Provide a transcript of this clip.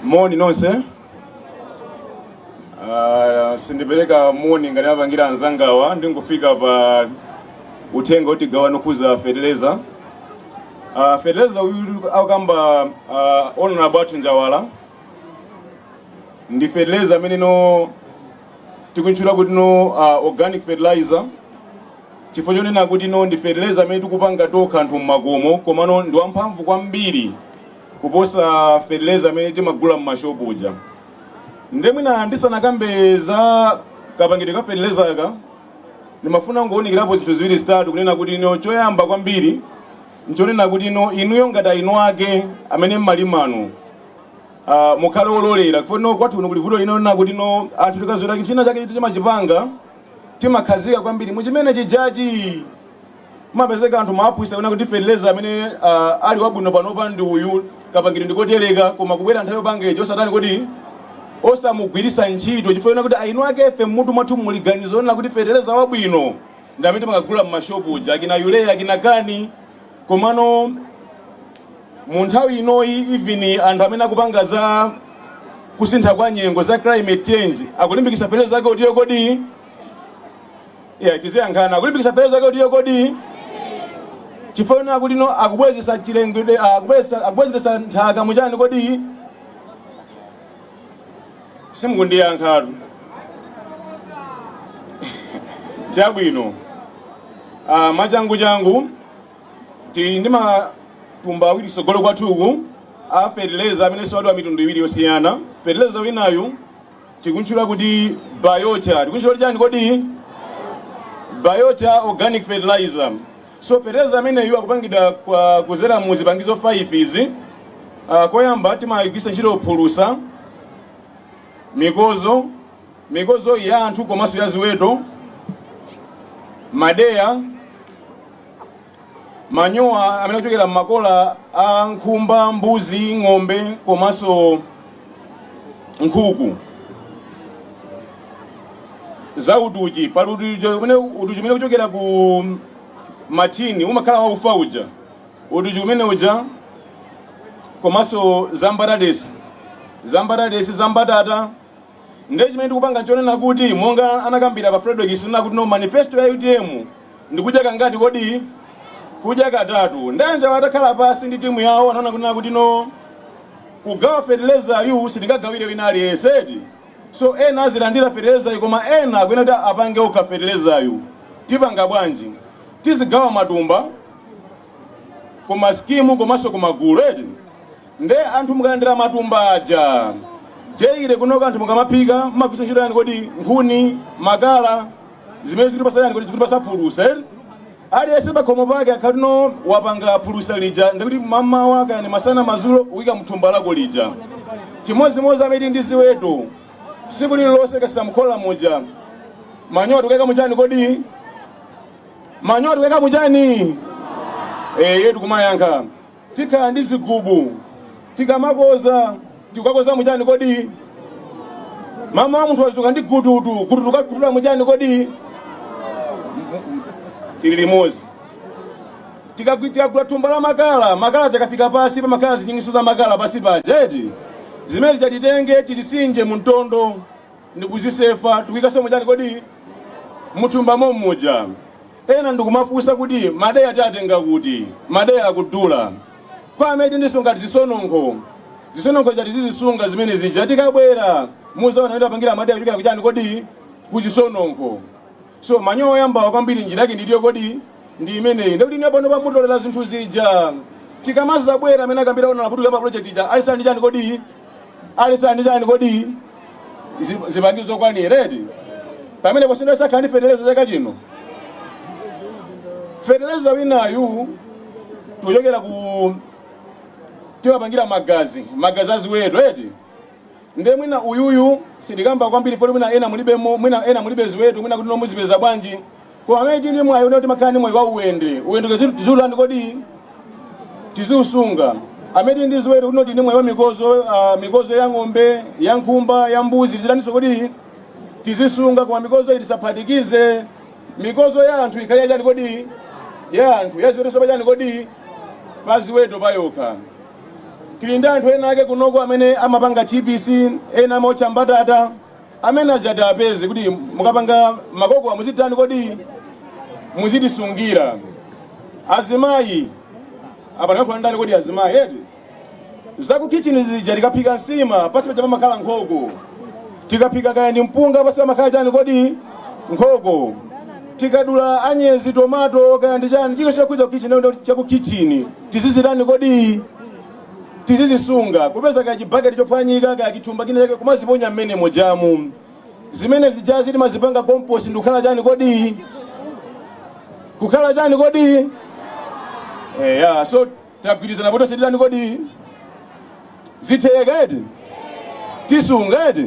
moni nonse uh, sindipereka moni ngati apangira anzangawa ndingofika pa uthenga kuti tigawane okhuza feteleza uh, feteleza uyu akamba uh, honorable athu njawala ndi feteleza amene no tikutchula kuti no uh, organic fertilizer chifukwa chonena kuti no ndi fertilizer amene tikupanga tokha anthu mmakomo komano ndi wamphamvu kwambiri kuposa fertilizer amene timagula mmashopu uja nde mwina ndisanakambe za kapangidwe ka fertilizer aka ndimafuna ndingounikirapo zinthu ziwiri zitatu kunena kuti no choyamba kwambiri nchonena kuti no inuyo ngati eni ake amene mmalima no Uh, mukhale ololera chifukwa no kwathu kuno kuli vuto lina lonena kuti no anthu tikazolowera china chake chiti timachipanga timakhazika kwambiri muchimene chijachi mapezeka anthu mmaaphunzisa kunena kuti fertilizer amene uh, ali wabwino panopa ndi uyu kapangidwe ndikotereka koma kubwera nthawi yopanga ijo osatani kodi osamugwirisa ntchito chifukwa chonena kuti eni ake ife mmutu mwathu muli ganizo lonena kuti fertilizer wabwino ndi amene timakagula m'mashopu uja akina urea akina CAN komano mu nthawi inoyi even anthu amene akupanga za kusintha kwa nyengo za climate change akulimbikitsa feteleza wake utiyo kodi ya tiziyankhana akulimbikitsa feteleza wake utiyo kodi chifukwa chonena kuti no akubwezesa chilengedwe akubwezesa akubwezesa nthaka muchani kodi simukundiyankhatu chabwino ah, mwachangu changu tili ndi matumba awiri kutsogolo kwathuku a fertilizer amene siwadwa mitundu iwiri yosiyana fertilizer winayu tikunchula kuti biochar tikunchula kuti chani kodi biochar organic fertilizer so fertilizer ameneyu akupangidwa kwa- kuzera mu zipangizo 5 izi uh, koyamba timagwirisa ntchito phulusa mikozo mikozo ya anthu komanso ya ziweto madeya manyowa amene akuchokera m'makola a nkhumba mbuzi ng'ombe komanso nkhuku za utuchi pali utuchi umene utuchi umene ukuchokera ku matchini umakhala waufa uja utuchi umene uja komanso za mbatatesi za mbatatesi za mbatata Ndiye chimene tikupanga nchonena kuti monga anakambira a Frederick kunena kuti no manifesto ya utm ndikudya kangati kodi kudya katatu nde anjawo atakhala pansi ndi timu yawo anaona kunena kuti no kugawa fertilizer yu sitingagawire wina aliyense eti so ena azilandira fertilizer yu koma ena akuyenera kuti apange okha fertilizer yu tipanga bwanji tizigawa matumba kuma skimu komanso kumagulu eti nde anthu mukalandira matumba aja chaire kunoko anthu mukamaphika mmagwitsa ntchito chani kodi nkhuni makala zimene zikutipasa chani kodi zikutipasa phulusa eti aliyense pakhomo pake akhala kuti no wapanga phulusa lija ndikuti mamawa kaya ndi masana mazulo ukuyika mthumba lako lija chimodzimodzi amene tili ndi ziweto siku lililonse kusesa mkhola muja manyowa tikuyika muchani kodi manyowa tikuika muchani eye tikumayankha tikhala ndi zigubu tikamakoza tikukakoza muchani kodi mama wa munthu wachuka ndi gututu gututu kakutula muchani kodi tili limodzi Tikagwi- tikagula thumba la makala makala tikapika pasi pamakhala zinyingiso za makala pasi paja eti zimene tidzatitenge tizisinje mu mtondo ndikuzisefa tikuikaso muchani kodi muthumba mommuja ena mukumafunsa kuti madeya tiatenga kuti madeya akudula kwa amene tili ndi zinthu ngati zisononkho zisononkho zija tizizisunga zimene zija tikabwera muzaona kuti tapangira madeya kuchokera kuchani kodi kuchisononkho So manyowa oyambawa kwambiri njira yake ndi iti kodi ndi imeneyi ndikuti ine pano bamutolera zinthu zija tikamazabwera amene akambira ona laputuka pa project ija ali ndi chani kodi ali ndi chani kodi Zi- zipangizo zokwanira eti pamene posindwa sakhala ndi feteleza chaka chino feteleza winayu tikuchokera ku timapangira magazi magazi aziweto eti Nde mwina uyuyu sitikamba kwambiri poti mwina ena mulibemo mwina ena mulibe ziweto mwina kuti no muzipeza bwanji koma amene tili ndi mwayi kuti timakhala ndi mwayi wa uwende uwendewo kuti tiziutani kodi tiziusunga amene tili ndi ziweto kuti tili ndi mwayi wa mikozo uh, mikozo ya ng'ombe ya nkhumba ya mbuzi tiziitaninso kodi tiziisunga koma mikozo iyi tisaphatikize mikozo ya anthu ikhale yachani kodi ya anthu ya ziweto so pachani kodi pa ziweto payokha tili ndi anthu ena ake kunoko amene amapanga tbc ena amaotcha mbatata amene aja tiapeze kuti mukapanga makokowa muzitani kodi muzitisungira azimayi apa ndikuyankhula ndani kodi azimayi eti zakukhitchini zija tikaphika nsima pansi paja pamakhala nkhoko tikaphika kaya ndi mpunga pansi pamakhala chani kodi nkhoko tikadula anyezi tomato kaya ndi chani cha chakudya kukhitchini chakukhitchini tizizitani kodi tizizisunga kupeza kaya chibaketi chophwanyika kaya chithumba china chake kumaziponya mmenemo jamu zimene zijazi timazipanga compost ndikukhala chani kodi kukhala chani kodi eya so tagwirizana kuti tonse titani kodi zitheka eti tisunga eti